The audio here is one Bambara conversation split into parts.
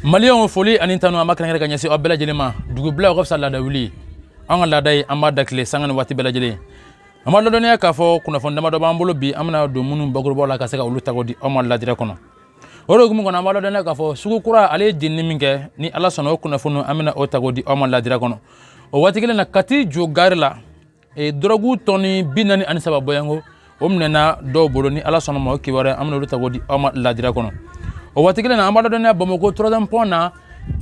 maliyɛnw foli ani tanu an b'a kɛrɛnkɛrɛn ka ɲɛsin aw bɛɛ lajɛlen ma dugubila o ka fisa laada wuli an ka laada ye an b'a da tile sanga ni waati bɛɛ lajɛlen an b'a ladɔnniya k'a fɔ kunnafoni damadɔ b'an bolo bi an bɛna don minnu bakurubaw la ka se ka olu ta k'o di aw ma la direct kɔnɔ o de hukumu kɔnɔ an b'a ladɔnniya k'a fɔ sugu kura ale ye jenini min kɛ ni ala sɔnna o kunnafoni an bɛna o ta k'o di aw ma la direct kɔnɔ o waati kelen na kati jo gari la e dɔrɔgu tɔni bi naani ani saba bɔyanko o minɛna dɔw bolo ni ala sɔnna ma o kibaruya an bɛna olu ta k'o di aw ma la direct kɔnɔ o waati kelen na an b'a ladɔnniya bamako troisième pont na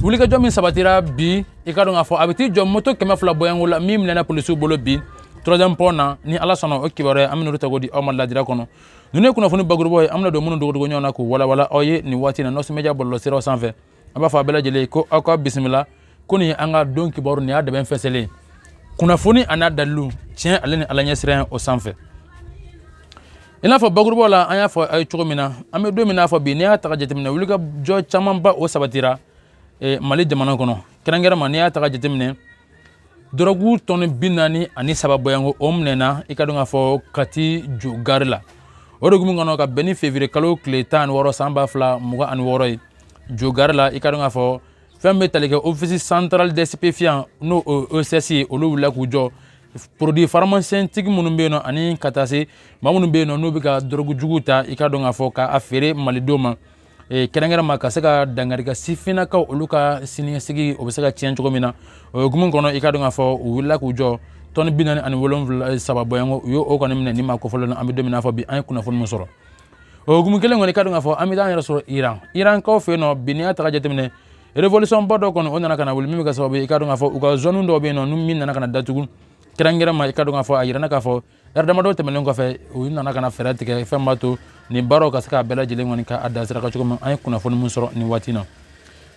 wulikajɔ min sabatira bi i ka dɔn k'a fɔ a bɛ t'i jɔ moto kɛmɛ fila bɔyanko la min minɛna polisiw bolo bi troisième pont na ni ala sɔnna o kibaruya an bɛna olu ta k'o di aw ma la direct kɔnɔ ninnu ye kunnafoni bakurubaw ye an bɛna don minnu dogodogo ɲɔgɔn na k'u walawala aw ye nin waati na nɔsɔmɛdiya bɔlɔlɔsiraw sanfɛ an b'a fɔ a bɛɛ lajɛlen ko aw ka bisimila kɔni an ka don kibaruya dɛbɛn fɛnsɛlen kunnafoni a n'a dalilu tiɲɛ ale ni ala ɲɛsiran o sanfɛ i n'a fɔ bakurubaw la an y'a fɔ aw ye cogo min na an bɛ don min n'a fɔ bi n'i y'a ta ka jateminɛ wulikajɔ camanba o sabatira e, mali jamana kɔnɔ kɛrɛnkɛrɛnma n'i y'a ta ka jateminɛ dɔrɔgu tɔni bi naani ani saba bɔyanko o minɛna i ka dɔn k'a fɔ kati jo gari la o de hukumu kɔnɔ ka bɛn ni fevriye kalo tile tan ani wɔɔrɔ san ba fila mugan ani wɔɔrɔ ye jo gari la i ka dɔn k'a fɔ fɛn bɛ tali kɛ office central des stupéfiants n'o ocs ye olu wulila k'u jɔ produits pharmaceutiques minnu bɛ yen nɔ ani ka taa se maa minnu bɛ yen nɔ n'u bɛ ka dɔrɔgu jugu ta i ka dɔn k'a fɔ k'a feere malidenw ma kɛrɛnkɛrɛnma ka se ka dankari ka sifinnakaw olu ka siniɲɛsigi o bɛ se ka tiɲɛ cogo min na o hukumu kɔnɔ i ka dɔn k'a fɔ u wulila k'u jɔ tɔni bi naani ani wolonwula saba bɔyanko u y'o kɔni minɛ ni maa kofɔlen na an bɛ don min n'a fɔ bi an ye kunnafoni min sɔrɔ o hukumu kelen kɔnɔ i ka dɔn k'a fɔ an bɛ taa an yɛrɛ sɔrɔ iran irankaw fɛ yen nɔ bi n'i y'a ta ka jateminɛ révolution ba dɔ kɔni o nana ka na wuli min bɛ kɛ sababu ye i ka dɔn k'a fɔ u ka zone dɔw bɛ yen nɔ ni min nana ka na datugu kɛrɛnkɛrɛnma i ka dɔn k'a fɔ a yirana k'a fɔ ɛri damadɔ tɛmɛnen kɔfɛ u nana ka na fɛɛrɛ tigɛ fɛn b'a to nin baaraw ka se k'a bɛɛ lajɛlen kɔni k'a da sira kan cogo min an ye kunnafoni min sɔrɔ nin waati na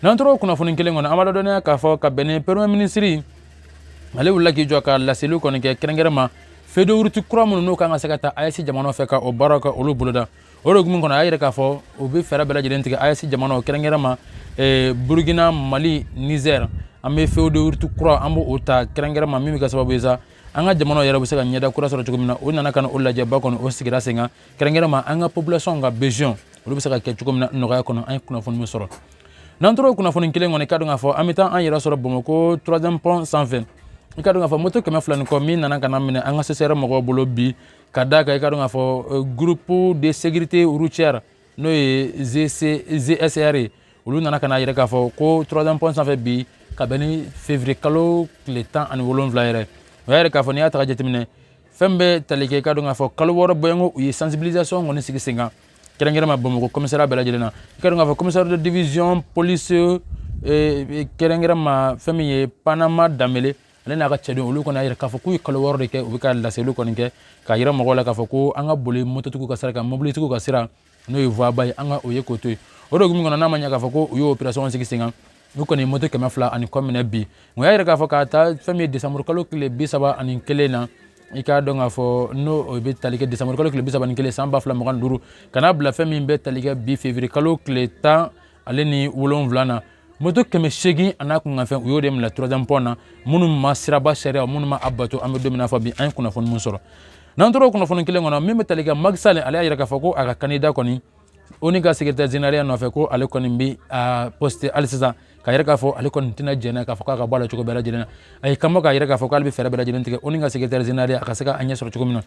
n'an tora o kunnafoni kelen kɔnɔ an b'a ladɔnniya k'a fɔ ka bɛn ni premier minisiri ale wulila k'i jɔ ka laseliw kɔni kɛ kɛrɛnkɛrɛnma feuille de route kura minnu n'o kan ka se ka taa ayɛsi jamanaw fɛ ka o baaraw ka olu boloda o de hukumu kɔnɔ a y'a yira k'a fɔ u bɛ fɛɛrɛ bɛɛ lajɛlen tigɛ ayɛsi jamanaw kɛrɛnkɛrɛnma eh, burukina mali nizɛr an bɛ feuille de route kura an b'o ta kɛrɛnkɛrɛnma min bɛ kɛ sababu ye sa an ka jamanaw yɛrɛ bɛ se ka ɲɛda kura sɔrɔ cogo min na o nana ka na o lajɛba kɔni o sigira sen kan kɛrɛnkɛrɛnma an ka population ka besoin olu bɛ se ka kɛ cogo min na nɔgɔya kɔnɔ an ye kunnafoni min sɔrɔ n'an tora o kunnafoni kelen kɔnɔ i ka dɔn k'a fɔ an bɛ taa an yɛrɛ sɔrɔ bamakɔ troisième pont sanfɛ i ka dɔn k'a fɔ moto kɛmɛ fila ni kɔ min nana ka na minɛ an ka ccr mɔgɔw bolo bi ka d'a kan i ka dɔn k'a fɔ groupe de sécurité routière n'o ye gsr ye olu nana ka n'a yira k'a fɔ ko troisième pont sanfɛ bi ka bɛn ni février kalo tile tan ani wolonwula yɛrɛ o y'a yira k'a fɔ n'i y'a ta ka jateminɛ fɛn bɛ tali kɛ i ka dɔn k'a fɔ kalo wɔɔrɔ bɔɲɔgɔn u ye sensibilisation kɔni sigi sen kan kɛrɛnkɛrɛnma bamakɔ commissariat bɛɛ lajɛlen na i ka dɔn k'a fɔ commissaire de division police eh, kɛrɛnkɛrɛnma fɛn min ye panama danbele ale n'a ka cɛdenw olu kɔni y'a yira k'a fɔ k'u ye kalo wɔɔrɔ de kɛ u bɛ ka laseliw kɔni kɛ k'a yira mɔgɔw la k'a fɔ ko an ka boli mototigiw ka sira kan mobilitigiw ka sira n'o ye voie ba ye an ka o ye k'o to yen o de hukumu kɔnɔ n'a ma ɲɛ k'a fɔ ko u ye operation sigi sen kan n'u kɔni ye moto kɛmɛ fila ani kɔ minɛ bi nka y'a yira k'a fɔ k'a ta fɛn min ye desanburu kalo tile bi saba ani kelen na i k'a dɔn k'a fɔ n'o o bɛ tali kɛ desanburu kalo tile bi saba ni kelen san ba fila mugan ni duuru ka n'a bila fɛn min bɛ tali kɛ bi février kalo tile tan ale ni wolonwula na moto kɛmɛ seegin a n'a kunkanfɛn u y'o de minɛ troisième pont na minnu ma siraba sariya minnu ma a bato an bɛ don min na fɔ bi an ye kunnafoni min sɔrɔ n'an tora o kunnafoni kelen kɔnɔ min bɛ tali kɛ maki sali ale y'a yira k'a fɔ ko a ka kandida kɔni onu ka sekretɛri zeneraliya nɔfɛ ko ale kɔni bɛ a poste hali sisan k'a yira k'a fɔ ale kɔni tɛna jɛnɛ k'a fɔ k'a ka bɔ a la cogo bɛɛ lajɛlen na a y'i kanbɔ k'a yira k'a fɔ k'ale bɛ fɛɛrɛ bɛɛ lajɛlen tigɛ onu ka sekretɛri zeneraliya a ka se ka a ɲɛ sɔrɔ cogo min na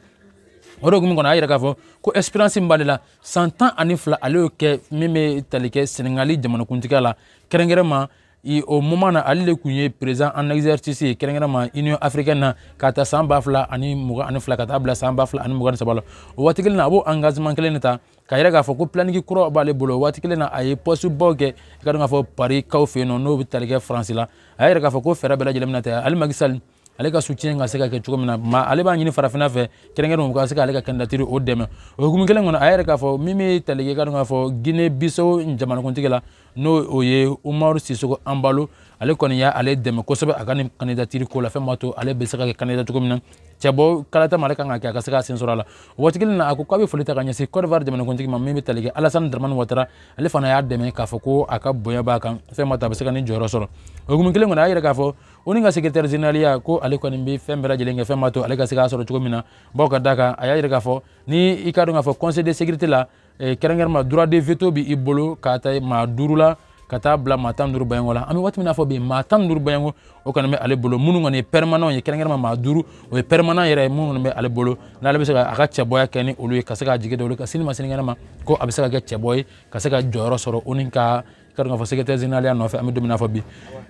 o de hukumu kɔnɔ a y'a yira k'a fɔ ko expérience min b'ale la san tan ani fila ale y'o kɛ min bɛ tali kɛ senegali jamanakuntigiya la kɛrɛnkɛrɛnma i o moment na ale de tun ye président en exercice ye kɛrɛnkɛrɛnma union africaine na k'a ta san ba fila ani mugan ani fila ka taa bila san ba fila ani mugan ni saba la o waati kelen na a b'o engagement kelen de ta k'a yira k'a fɔ ko planning kura b'ale bolo o waati kelen na a ye poste baw kɛ i ka dɔn k'a fɔ pari kaw fɛ yen nɔ n'o bɛ tali kɛ faransi la a y'a yira k'a fɔ ko fɛɛrɛ bɛɛ lajɛlen bɛna tigɛ ale maki sali ale ka soutien ka se ka kɛ cogo min na ale b'a ɲini farafinna fɛ kɛrɛnkɛrɛn u ka se k'ale ka kandidatiri o dɛmɛ o hukumu kelen kɔnɔ a y'a yira k'a fɔ min bɛ tali kɛ i ka dɔn k'a fɔ guinee bissau jamanakuntigi la n'o o ye umaru sisoko anbalo ale kɔni y'ale dɛmɛ kosɛbɛ a ka nin kandidatiri ko la fɛn b'a to ale bɛ se ka kɛ kandida cogo min na cɛbɔ kalata ma ale kan ka kɛ a ka se ka sen sɔrɔ a la o waati kelen na a ko k'a bɛ foli ta ka ɲɛsin cote d'ivoire jamanakuntigi ma min bɛ tali kɛ alasani dramani watara ale fana y'a dɛmɛ k'a fɔ ko a ka bonya b'a kan fɛn b'a to a bɛ se ka nin jɔyɔrɔ sɔrɔ o hukumu kelen kɔnɔ a y'a yira k'a fɔ onu ka sekretɛri zeneraliya ko ale kɔni bɛ fɛn bɛɛ lajɛlen kɛ fɛn b'a to ale ka se k'a sɔrɔ cogo min na bawo ka da kan a y'a jira k'a fɔ ni i ka dɔn k'a fɔ conseil de sécurité la eh, kɛrɛnkɛrɛnma droit de veto bɛ i bolo k'a ta maa duuru la ka taa bila maa tan duuru bɔɲɔgɔnko la an bɛ waati min n'a fɔ bi maa tan duuru bɔɲɔgɔnko o kɔni bɛ ale bolo minnu kɔni ye pɛrɛmananw ye kɛrɛnkɛrɛnma maa duuru o ye pɛrɛmanan yɛrɛ ye minnu kɔni bɛ ale bolo n'ale bɛ se ka a ka cɛbɔya kɛ ni olu ye ka se k'a jigi da olu ka sini ma sinikɛnɛ ma ko a bɛ se ka kɛ cɛbɔ ye ka se ka jɔyɔrɔ sɔrɔ onu ka ka dɔn k'a fɔ sekretɛri zeneraliya nɔfɛ an bɛ don min na fɔ bi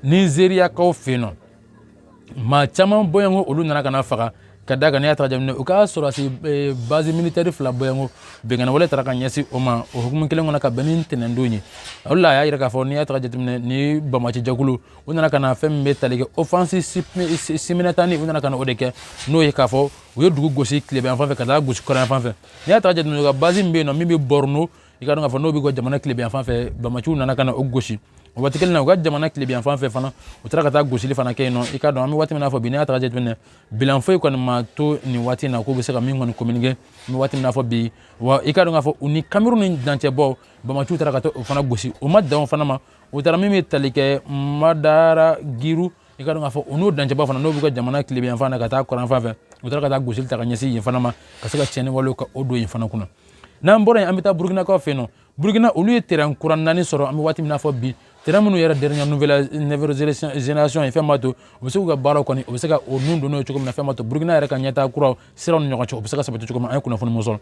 nizeriyakaw fɛ yen nɔ maa caman bɔɲɔgɔnko olu nana ka na faga ka da kan n'i y'a ta jateminɛ u ka sɔrɔdasi e, bazi militɛri fila bɔɲɔgɔnko binkanni wale taara ka ɲɛsin o ma o hukumu kelen kɔnɔ ka bɛn ni ntɛnɛndon ye o de la a y'a yira k'a fɔ n'i y'a ta ka jateminɛ ni banbaanci jɛkulu u nana ka na fɛn min bɛ tali kɛ offensive simultanée u nana ka na o de kɛ n'o ye k'a fɔ u ye dugu gosi tilebin fan fɛ ka taa gosi kɔrɔnyan fan fɛ n'i y'a ta ka jateminɛ u ka bazi min bɛ yen nɔ min bɛ bɔrɔno i ka dɔn k'a fɔ n'o b'u ka jamana tilebiyan fan fɛ bamaciw nana ka na o gosi o waati kelen na u ka jamana tilebiyan fan fɛ fana u taara ka taa gosili fana kɛ yen nɔ i ka dɔn an bɛ waati min na fɔ bi n'i y'a ta ka jateminɛ bilan foyi kɔni ma to nin waati in na k'u bɛ se ka min kɔni communiquer an bɛ waati min na fɔ bi wa i ka dɔn k'a fɔ u ni kamiruni dancɛbɔ bamaciw taara ka taa o fana gosi o ma dan o fana ma u taara min bɛ tali kɛ madara giru i ka dɔn k'a fɔ u n'u dancɛba fana n'o b'u ka jamana tilebiyanfan na ka taa kɔrɔnfan fɛ u taara ka taa gosili ta ka ɲɛsin yen fana ma ka se ka tiɲɛni walew ka o don yen fana kunna n'an bɔra yen an bɛ taa burukinakaw fɛ yen nɔ burukina olu ye terɛn kura naani sɔrɔ an bɛ waati min na fɔ bi terɛn minnu yɛrɛ dernière nouvelle génération ye fɛn b'a to u bɛ se k'u ka baaraw kɔni u bɛ se ka o nun don n'o ye cogo min na fɛn b'a to burukina yɛrɛ ka ɲɛtaa kuraw siraw ni ɲɔgɔn cɛ u bɛ se ka sabati cogo min an ye kunnafoni mun sɔrɔ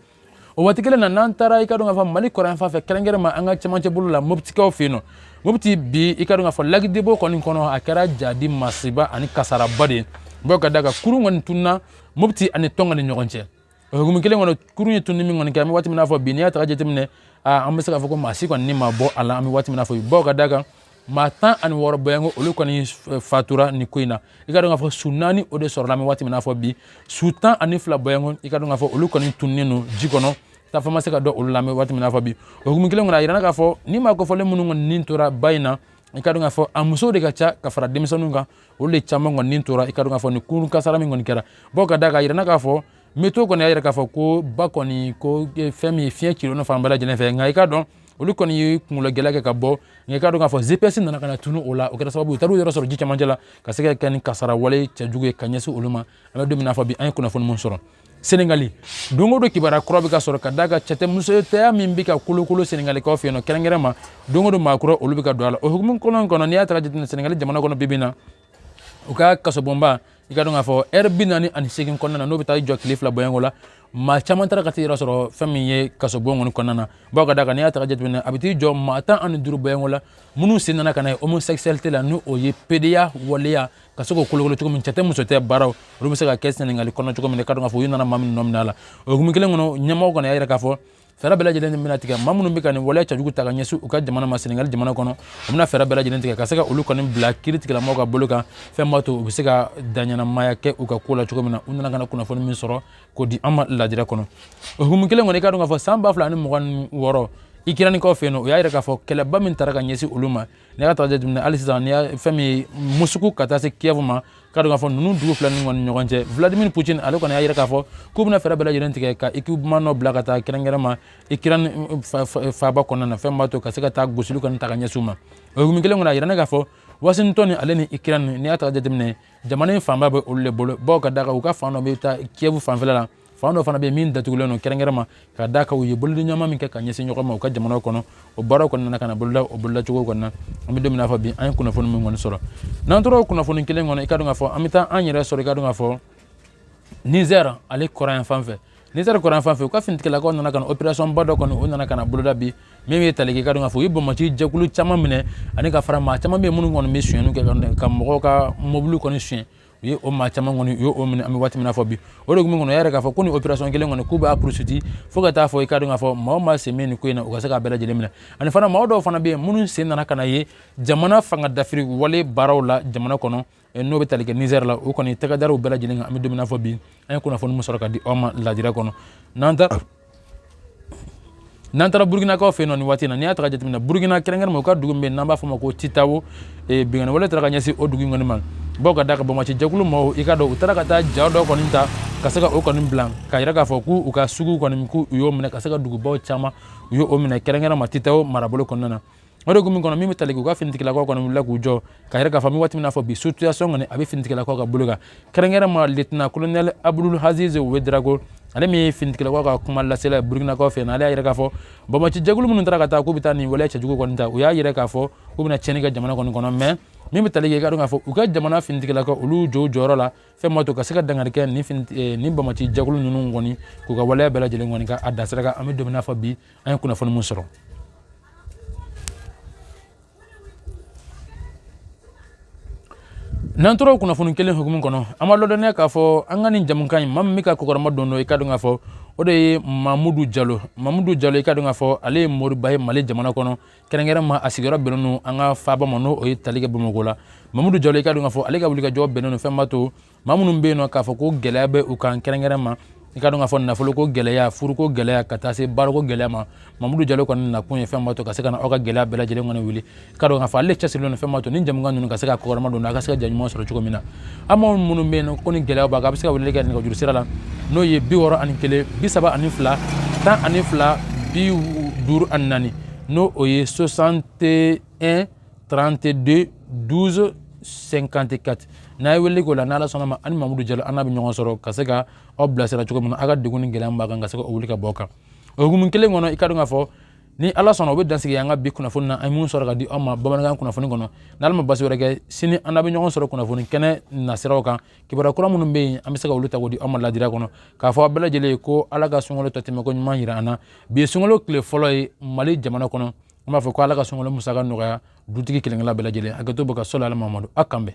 o waati kelen na n'an taara i ka dɔn k'a fɔ mali kɔrɔnyan fan fɛ kɛrɛnkɛrɛn ma an ka cɛmancɛ bolo la moptikaw fɛ yen nɔ mopti bi i ka dɔn k'a fɔ lac debo kɔni kɔnɔ a kɛra jahadi masiba ani kasaraba de ye bawo ka d'a kan kurun kɔni tununa mopti ani tonka ni ɲɔgɔn cɛ o hukumu kelen kɔnɔ kurun ye tununi min kɔni kɛ an bɛ waati min na fɔ bi n'i y'a ta ka jateminɛ an bɛ se k'a fɔ ko maa si kɔni ni ma bɔ a la an bɛ waati min na fɔ bi bawo ka d'a kan maa tan ani wɔɔrɔ bɔɲɔgɔnko olu kɔni fatura nin ko in na i ka dɔn k'a fɔ su naani o de sɔrɔla an bɛ waati min na fɔ bi su tan ani fila bɔɲɔgɔnko i ka dɔn k'a fɔ olu kɔni tununnen don ji kɔnɔ taafan ma se ka dɔn olu la an bɛ waati min na fɔ bi o hukumu kelen kɔnɔ a yirana k'a fɔ nin maa kofɔlen minnu kɔni ni tora ba in na i ka dɔn k'a fɔ a musow de ka ca ka fara denmisɛnninw kan olu de caman kɔni ni tora i ka dɔn k'a fɔ nin kurun kasara min kɔni kɛra bawo ka d'a kan a yirana k'a fɔ météo kɔni y'a yira k'a fɔ ko ba kɔni ko e, fɛn min ye fiɲɛ cilen fan bɛɛ lajɛlen fɛ nka i ka dɔn olu kɔni ye kungologɛlɛya kɛ ka bɔ nka i ka dɔn k'a fɔ gps nana ka na tunu o la o kɛra sababu u taar'u yɛrɛ sɔrɔ ji camancɛ la ka se ka kɛ nin kasara wale cɛjugu ye ka ɲɛsin olu ma an bɛ don min na fɔ bi an ye kunnafoni mun sɔrɔ senegali don o don kibaruya kura bɛ ka sɔrɔ ka d'a kan cɛtɛmusotɛya min bɛ ka kolokolo senegalikaw fɛ yen nɔ kɛrɛnkɛrɛn ma don o don maa kura olu bɛ ka don a la o hukumu kelen kɔnɔ n'i y'a ta ka jateminɛ senegali jamana kɔnɔ bi bi in na u ka kasobonba i ka dɔn k'a fɔ ɛri bi naani ani segin kɔnɔna na n'o bɛ taa i jɔ tile fila bɔɲɔgɔn la maa caman taara ka t'i yɛrɛ sɔrɔ fɛn min ye kasobon kɔni kɔnɔna na bawo ka d'a kan n'i y'a ta ka jateminɛ a bɛ t'i jɔ maa tan ani duuru bɔɲɔgɔn la minnu sen nana ka na ye homosexualité la ni o ye pedeya waleya ka se k'o kolokolo cogo min cɛ tɛ muso tɛ baaraw olu bɛ se ka kɛ sɛnɛgali kɔnɔ cogo min i ka dɔn k'a fɔ u nana maa minnu minɛ a la o hukumu kelen kɔnɔ ɲɛmɔgɔ kɔni y'a yira k'a fɔ fɛɛrɛ bɛɛ lajɛlen bɛna tigɛ maa minnu bɛ ka nin waleya cɛjugu ta ka ɲɛsin u ka jamana ma sɛnɛgali jamana kɔnɔ u bɛna fɛɛrɛ bɛɛ lajɛlen tigɛ ka se ka olu kɔni bila kiritigɛlamɔgɔw ka bolo kan fɛn b'a to u bɛ se ka daɲɛnamaya kɛ u ka ko la cogo min na u nana ka na kunnafoni min sɔrɔ k'o di an ma lajɛrɛ kɔnɔ o hukumu kelen kɔnɔ i ka dɔn k'a fɔ san ba fila ani mugan ni wɔɔrɔ ikiranikaw fɛ yen nɔ u y'a yira k'a fɔ kɛlɛba min tara ka ɲɛsin olu ma n'i y'a ta ka jateminɛ hali sisan ni fɛn min ye musuku ka taa se kiev ma i ka dɔn k'a fɔ ninnu dugu fila ninnu kɔni ɲɔgɔn cɛ vladimir putin ale kɔni y'a yira k'a fɔ k'u bɛna fɛɛrɛ bɛɛ lajɛlen tigɛ ka équipement dɔ bila ka taa kɛrɛnkɛrɛn ma ikirani faaba kɔnɔna na fɛn b'a to ka se ka taa gosili kɔni ta ka ɲɛsin u ma o hukumu kelen kɔnɔ a yirana k'a fɔ washington ale ni ikirani n'i y'a ta ka jateminɛ jamana in fanba bɛ olu de bolo bawo ka d'a kan u ka fan dɔ bɛ taa kiev fanfɛla la fan dɔ fana bɛ min datugulen don kɛrɛnkɛrɛn ma ka da kan u ye bolodi ɲɔgɔnma min kɛ ka ɲɛsin ɲɔgɔn ma u ka jamanaw kɔnɔ o baaraw kɔni nana ka na boloda o bolodacogo kɔni na an bɛ don min na fɔ bi an ye kunnafoni min kɔni sɔrɔ n'an tora o kunnafoni kelen kɔnɔ i ka dɔn k'a fɔ an bɛ taa an yɛrɛ sɔrɔ i ka dɔn k'a fɔ nizɛr ale kɔrɔn yan fan fɛ nizɛr kɔrɔn yan fan fɛ u ka finitigilakaw nana ka na operation ba dɔ kɔni o nana ka na boloda bi min bɛ tali kɛ i ka dɔn k'a fɔ u ye banbaanci jɛkulu caman minɛ ani ka fara maa caman bɛ yen minnu kɔni bɛ sonyɛni kɛ ka mɔgɔw ka mɔbili kɔni sonyɛ u ye o maa caman kɔni u ye o minɛ an bɛ waati min na fɔ bi o de hukumu kɔnɔ y'a yira k'a fɔ ko nin operation kelen kɔni k'u b'a poursuite fo ka taa fɔ i ka dɔn k'a fɔ maa o maa sen bɛ nin ko in na u ka se k'a bɛɛ lajɛlen minɛ ani fana maa dɔw fana bɛ yen minnu sen nana ka na ye jamana fanga dafiri wale baaraw la jamana kɔnɔ eh, n'o bɛ tali kɛ Niger la o kɔni tɛgɛ dara u bɛɛ lajɛlen kan an bɛ don min na fɔ bi an ye kunnafoni min sɔrɔ ka di aw ma lajira kɔnɔ n'an taara burukinakaw fɛ yen nɔ nin waati in na n'i y'a ta ka jateminɛ burukina kɛrɛnkɛrɛnma u ka dugu min bɛ yen n'an b'a fɔ o ma ko titawo eh, binkanni wale taara ka ɲɛsin o dugu in kɔni ma bawo ka da kan banbaanci jɛkulu mɔgɔw i ka dɔn u taara ka taa ja dɔ kɔni ta ka se ka o kɔni bila k'a yira k'a fɔ k'u ka sugu kɔni k'u y'o minɛ ka se ka dugubaw caman u y'o minɛ kɛrɛnkɛrɛnma titawo marabolo kɔnɔna na o de hukumu kɔnɔ min bɛ tali kɛ u ka finitigilakaw kɔni wulila k'u jɔ k'a yira k'a fɔ an bɛ waati min na fɔ bi situation kɔni a bɛ finitigilakaw ka bolo kan kɛrɛnkɛrɛnma lieutenant colonel abdul aziz wedrago ale min ye finitigilakaw ka kuma lasela ye burukinakaw fɛ na ale y'a yira k'a fɔ banbaanci jɛkulu minnu taara ka taa k'u bɛ taa nin waleya cɛjugu kɔni ta u y'a yira k'a fɔ k'u bɛna tiɲɛni kɛ jamana kɔni kɔnɔ mais min bɛ tali kɛ i ka dɔn k'a fɔ u ka jamana finitigilakaw olu jɔ u jɔyɔrɔ la fɛn ma to ka se ka dankari kɛ nin eh, nin banbaanci jɛkulu ninnu kɔni k'u ka waleya bɛɛ lajɛlen kɔni ka a dasiraka an bɛ don min na fɔ bi an ye kunnafoni min sɔrɔ n'an tora kunnafoni kelen hukumu kɔnɔ an b'aw ladɔnniya k'a fɔ an ka nin jamukan in maa min bɛ ka kɔkɔrɔma dondon i ka dɔn k'a fɔ o de ye mamudu jalo mamudu jalo i ka dɔn k'a fɔ ale ye moriba ye mali jamana kɔnɔ kɛrɛnkɛrɛnma a sigiyɔrɔ bɛnnen don an ka faaba ma n'o ye tali kɛ bamakɔ la mamudu jalo i ka dɔn k'a fɔ ale ka wulikajɔ bɛnnen don fɛn b'a to maa minnu bɛ yen nɔ k'a fɔ ko gɛlɛya bɛ u kan kɛrɛnkɛrɛn ma i ka dɔn k'a fɔ nafoloko gɛlɛya furuko gɛlɛya ka taa se baarako gɛlɛya ma mamudu jalo kɔni nakun ye fɛn ma to ka se ka na aw ka gɛlɛya bɛɛ lajɛlen kɔni wuli i ka dɔn k'a fɔ ale cɛsirilen don fɛn ma to ni jamukan ninnu ka se ka kɔkɔrɔma don a ka se ka jaɲuman sɔrɔ cogo min na aw maa minnu bɛ yen ko ni gɛlɛya b'a kan a bɛ se ka weleli kɛ nɛgɛjuru sira la n'o ye bi wɔɔrɔ ani kelen bi saba ani fila tan ani fila bi duuru ani naani n'o ye soixante et un 32 12 54 n'a ye wele k'o la n'ala sɔnna a ma ani mamudu jalo an n'a bɛ ɲɔgɔn sɔrɔ ka se ka aw bilasira cogo min na aw ka degun ni gɛlɛya b'a kan ka se ka o wuli ka bɔ kan o hukumu kelen kɔnɔ i ka dɔn k'a fɔ ni ala sɔnna o bɛ dan sigi an ka bi kunnafoni na an ye minnu sɔrɔ ka di aw ma bamanankan kunnafoni kɔnɔ n'ala ma basi wɛrɛ kɛ sini an n'a bɛ ɲɔgɔn sɔrɔ kunnafoni kɛnɛ nasiraw kan kibaruya kura minnu bɛ yen an bɛ se ka olu ta k'o di aw ma ladira kɔnɔ k'a fɔ aw bɛɛ lajɛlen ye ko ala ka sunkalo tɔ tɛmɛko ɲuman jira an na bi ye sunkalo tile fɔlɔ ye mali jamana kɔnɔ an b'a fɔ ko ala ka sunkalo musaka nɔgɔya dutigi kelenkelenna bɛɛ lajɛlen a ka to barika sɔrɔ ala mamadu a k'an bɛn